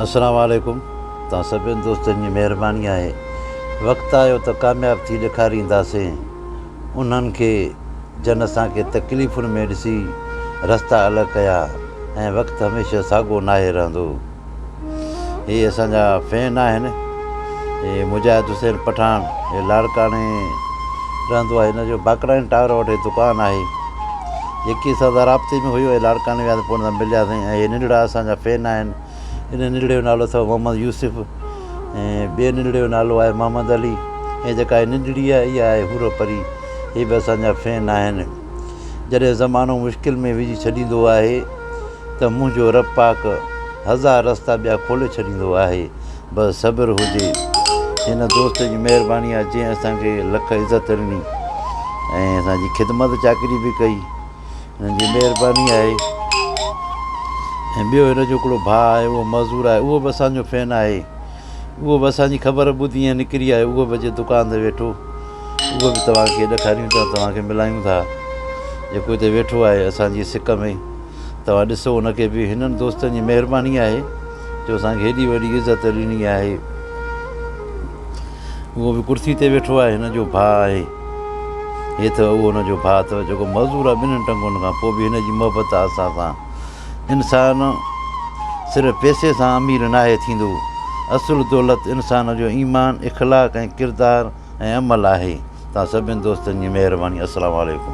السلام عليڪم توهان سڀني دوستن جي مهرباني آهي وقت آيو ته ڪامياب ٿي ڏيکارينداسين انهن کي جن اسان کي تڪليفن ۾ ڏسي رستا الڳ ڪيا ۽ وقت هميشه ساڳو ناهي رهندو هي اسان جا فين آهن هي مجاهد حسين پٺاڻ هي لاڙڪاڻي رهندو آهي هن جو باقراين ٽاور وٽ هي دڪان آهي جيڪي اسان سان رابطي ۾ هئي اهي لاڙڪاڻي ويا ته پوء ان سان ملياسين ۽ اهي ننڍڙا اسان جا فين آهن ان ننڍڙي جو نالو اٿو محمد يوسف ۽ ٻئي ننڍڙي جو نالو آهي محمد علي ۽ جيڪا هي ننڍڙي آهي اها آهي حورو پري هي به اسان جا فين آهن جڏهن زمانو مشڪل ۾ وجهي ڇڏيندو آهي. ته منهنجو رب پاڪ هزار رستا ٻيا کولي ڇڏيندو آهي بس صبر هجي هن دوست جي مهرباني آهي جنهن اسان کي لک عزت ڏني ۽ اسان جي خدمت چاڪري به ڪئي هن جي مهرباني آهي ۽ ٻيو هن جو هڪڙو ڀاء آهي اهو مزور آهي اهو به اسان جو فين آهي اهو به اسان جي خبر ٻڌي ۽ نڪري آيو اهو به اچي دڪان تي ويٺو اهو به توهان کي ڏيکاريون ٿا توهان کي ملايون ٿا جيڪو هتي ويٺو آهي اسان جي سڪ ۾ توهان ڏسو ان کي به هنن دوستن جي مهرباني آهي جو اسان کي هيڏي وڏي عزت ڏني آهي اهو به ڪرسي تي ويٺو آهي هن جو ڀاء آهي هي اٿو اهو هن جو ڀاء اٿو جيڪو معذور آهي ٻنهن ٽنگن کان پوء به هن جي محبت آهي اسان سان انسان صرف پيسي سان امير ناهي ٿيندو اصل دولت انسان جو ايمان اخلاق ۽ ڪردار ۽ عمل آهي توهان سڀني دوستن جي مهرباني السلام عليڪم